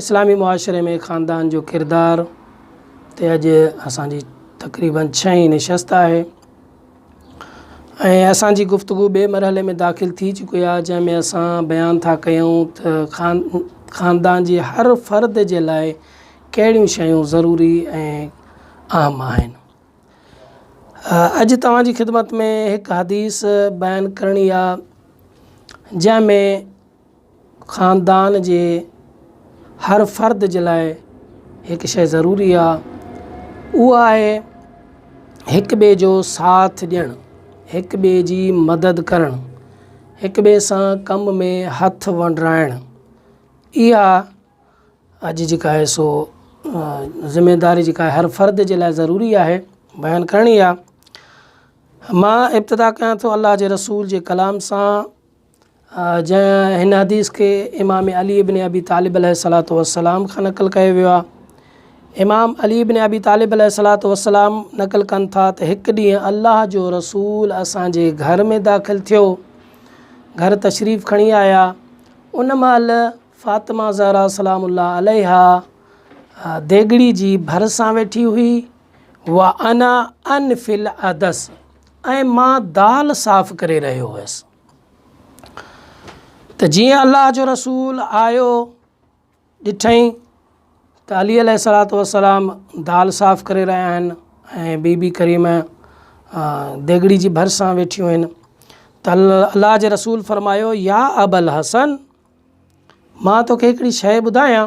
اسلامي معاشري ۾ خاندان جو ڪردار تي اڄ اسان جي تقريباً ڇهين نشست آهي ۽ اسان جي گفتگو ٻئي مرحلي ۾ داخل ٿي چڪي آهي جنهن ۾ اسان بيان ٿا ڪيون ته خان خاندان جي هر فرد جي لاء ڪهڙيون شيون ضروري ۽ اهم آهن اڄ توهان جي خدمت ۾ هڪ حديث بيان ڪرڻي آهي جنهن ۾ خاندان جي هر فرد جي لاء هڪ شيء ضروري آ اهو آهي هڪ ٻئي جو ساٿ ڏيڻ هڪ ٻئي جي مدد ڪرڻ هڪ ٻئي سان ڪم ۾ هٿ ونڊرائڻ اها اڄ جيڪا آهي سو ذميداري جيڪا آهي هر فرد جي لاء ضروري آهي بيان ڪرڻي آ مان ابتدا ڪيان ٿو الله جي رسول جي ڪلام سان جنهن هن حديث کي امام علي ابن ابي طالب عليه الصلاة والسلام کان نقل ڪيو ويو آهي امام علي ابن ابي طالب عليه الصلاة والسلام نقل ڪن ٿا ته هڪ ڏينهن الله جو رسول اسان جي گهر ۾ داخل ٿيو گهر تشريف کڻي آيا ان مهل فاطمه زهرا سلام الله عليها ديگڙي جي ڀرسان ويٺي هئي وانا انفل عدس ۽ مان دال صاف ڪري رهيو هيس ته جيئن الله جو رسول آيو ڏٺئين ته علي عليه الصلاة والسلام دال صاف ڪري رهيا آهن ۽ بي بي ڪريمه ديڳڙي جي ڀرسان ويٺيون آهن ته الله جي رسول فرمايو يا ابا الحسن مان توکي هڪڙي شيء ٻڌايان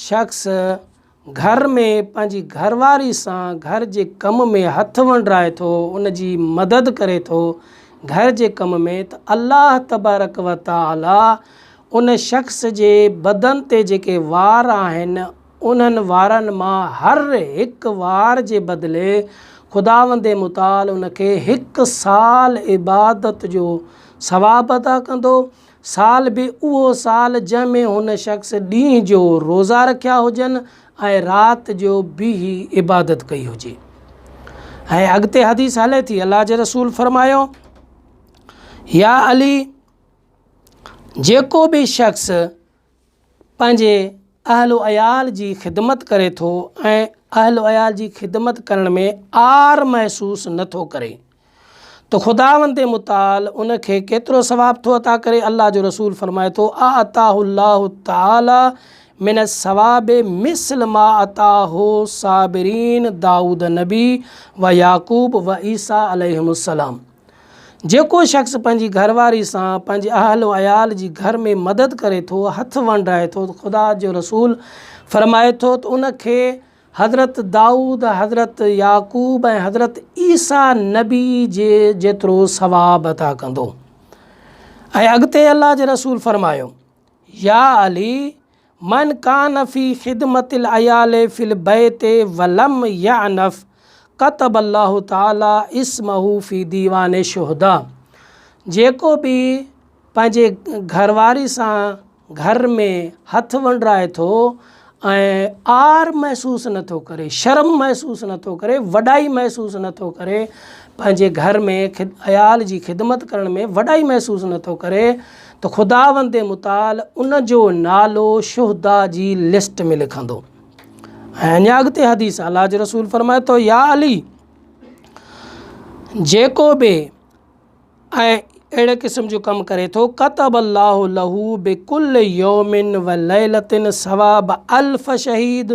شخص گهر ۾ پنهنجي گهر واري سان گهر جي ڪم ۾ هٿ ونڊرائي ٿو ان جي مدد ڪري ٿو گهر جي ڪم ۾ ته الله تبارڪ و تعالي ان شخص جي بدن تي جيڪي وار آهن انهن وارن مان هر هڪ وار جي بدلي خداوند متعال ان کي هڪ سال عبادت جو ثواب عطا ڪندو سال به اهو سال جنهن ۾ هن شخص ڏينهن جو روزا رکيا هجن ۽ رات جو بيهي عبادت ڪئي هجي ۽ اڳتي حديث هلي ٿي الله جي رسول فرمايو يا علي جيڪو به شخص پنهنجي اهل و عيال جي خدمت ڪري ٿو ۽ اهل و عيال جي خدمت ڪرڻ ۾ عار محسوس نه ٿو ڪري ته خداوند متعال ان کي ڪيترو ثواب ٿو عطا ڪري الله جو رسول فرمائي ٿو اعطاه الله تعالٰي من الثواب مثل ما اعطاه صابرين داؤد نبي و يعقوب و عيسٰي عليهم السلام جيڪو شخص پنهنجي گهر واري سان پنهنجي اهل و عيال جي گهر ۾ مدد ڪري ٿو، هٿ ونڊائي ٿو، خدا جو رسول فرمائي ٿو ته ان کي حضرت دائود، حضرت يعقوب ۽ حضرت عيسيٰ نبي جي جيترو ثواب عطا ڪندو. ۽ اڳتي الله جي رسول فرمايو، يا علي من کان في خدمت العيال في البيت ولم يعنف ڪتب الله تعالي اسمه في ديوان الشهداء جيڪو به پنهنجي گهر واري سان گهر ۾ هٿ ونڊرائي ٿو ۽ عار محسوس نه ٿو ڪري شرم محسوس نه ٿو ڪري وڏائي محسوس نه ٿو ڪري پنهنجي گهر ۾ عيال جي خدمت ڪرڻ ۾ وڏائي محسوس نه ٿو ڪري ته خداوند متعال ان جو نالو شهدا جي لسٽ ۾ لکندو ۽ اڃا اڳتي حديث الله جو رسول فرمائي ٿو يا علي جيڪو به ۽ اهڙي قسم جو ڪم ڪري ٿو ڪتب الله له بڪل يومن و ليلتن ثواب الف شهيد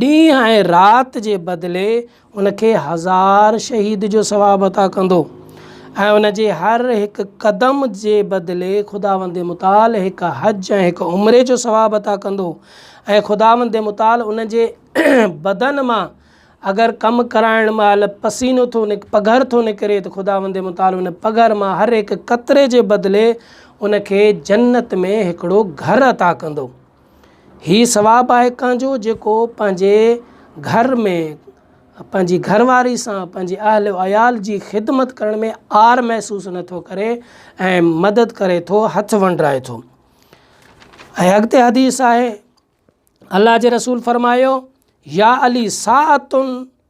ڏينهن ۽ رات جي بدلي ان کي هزار شهيد جو ثواب عطا ڪندو ۽ ان جي هر هڪ قدم جي بدلي خداوند متعال هڪ حج ۽ هڪ عمري جو ثواب عطا ڪندو ۽ خداوند متعال ان جي بدن مان اگر ڪم ڪرائڻ مهل پسينو ٿو نڪ پگهر ٿو نڪري ته خداوند متعال ان پگهر مان هر هڪ قطري جي بدلي ان کي جنت ۾ هڪڙو گهر عطا ڪندو. هي ثواب آهي ڪنهن جو جيڪو پنهنجي گهر ۾ پنهنجي گهر واري سان پنهنجي اهل و عيال جي خدمت ڪرڻ ۾ عار محسوس نه ٿو ڪري ۽ مدد ڪري ٿو هٿ ونڊرائي ٿو ۽ اڳتي حديث آهي الله جي رسول فرمايو يا علي ساعتن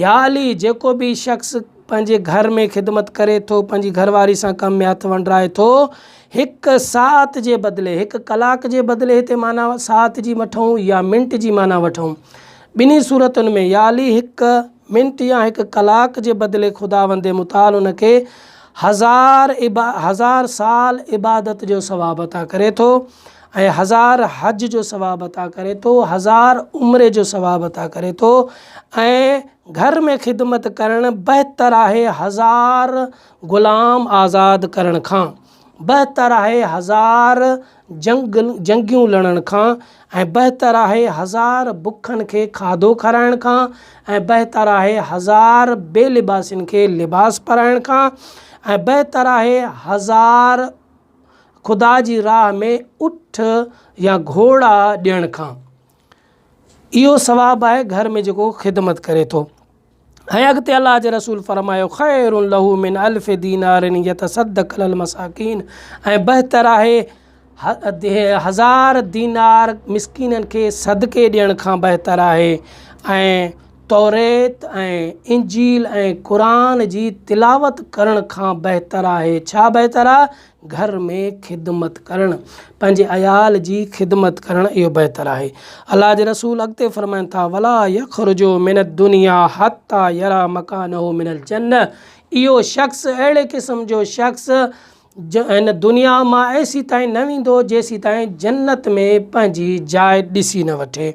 يا علي جيڪو به شخص پنهنجي گهر ۾ خدمت ڪري ٿو پنهنجي گهر واري سان ڪم ۾ هٿ ونڊرائي ٿو هڪ ساعت جي بدلي هڪ ڪلاڪ جي بدلي هتي معنيٰ ساعت جي وٺون يا منٽ جي معنيٰ وٺون ٻنهي صورتن ۾ يا علي هڪ منٽ يا هڪ ڪلاڪ جي بدلي خداوند متعال ان کي هزار هزار سال عبادت جو ثواب عطا ڪري ٿو ۽ هزار حج جو ثواب عطا ڪري ٿو، هزار عمري جو ثواب عطا ڪري ٿو ۽ گهر ۾ خدمت ڪرڻ بهتر آهي هزار غلام آزاد ڪرڻ کان، بهتر آهي هزار جنگ جنگيون لڙڻ کان ۽ بهتر آهي هزار بکن کي کاڌو کارائڻ کان ۽ بهتر آهي هزار بي لباسين کي لباس پارائڻ کان ۽ بهتر آهي هزار خدا جي راهه ۾ اٺ يا گهوڙا ڏيڻ کان اهو ثواب آهي گهر ۾ جيڪو خدمت ڪري ٿو ۽ اڳتي الله جي رسول فرمايو خير له من الف دينار يتصدق على المساڪين ۽ بهتر آهي هزار دينار مسڪينن کي صدقي ڏيڻ کان بهتر آهي ۽ توريت ۽ انجيل ۽ قرآن جي تلاوت ڪرڻ کان بهتر آهي. ڇا بهتر آهي؟ گهر ۾ خدمت ڪرڻ، پنهنجي عيال جي خدمت ڪرڻ اهو بهتر آهي. الله جي رسول اڳتي فرمائن ٿا، ولا يخرج من الدنيا حتي يري مڪانه من الجنه اهو شخص، اهڙي قسم جو شخص، جو هن دنيا مان ايسي تائين نه ويندو جيسي تائين جنت ۾ پنهنجي جاء ڏسي نه وٺي.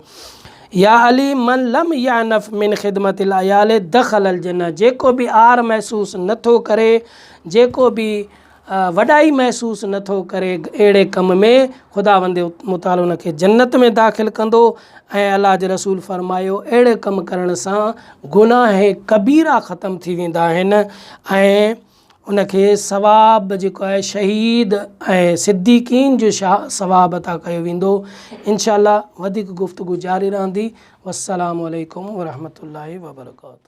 يا علي من لم يعنف من خدمت العيال دخل الجنه جيڪو به عار محسوس نه ٿو ڪري، جيڪو به وڏائي محسوس نه ٿو ڪري اهڙي ڪم ۾ خداوند متعالي ان کي جنت ۾ داخل ڪندو ۽ الله جي رسول فرمايو اهڙي ڪم ڪرڻ سان گناهه ڪبيرا ختم ٿي ويندا آهن ۽ ان کي ثواب جيڪو آهي شهيد ۽ صديقين جو ثواب عطا ڪيو ويندو انشاء الله وڌيڪ گفتگو جاري رهندي والسلام عليڪم ورحمة الله وبرڪاته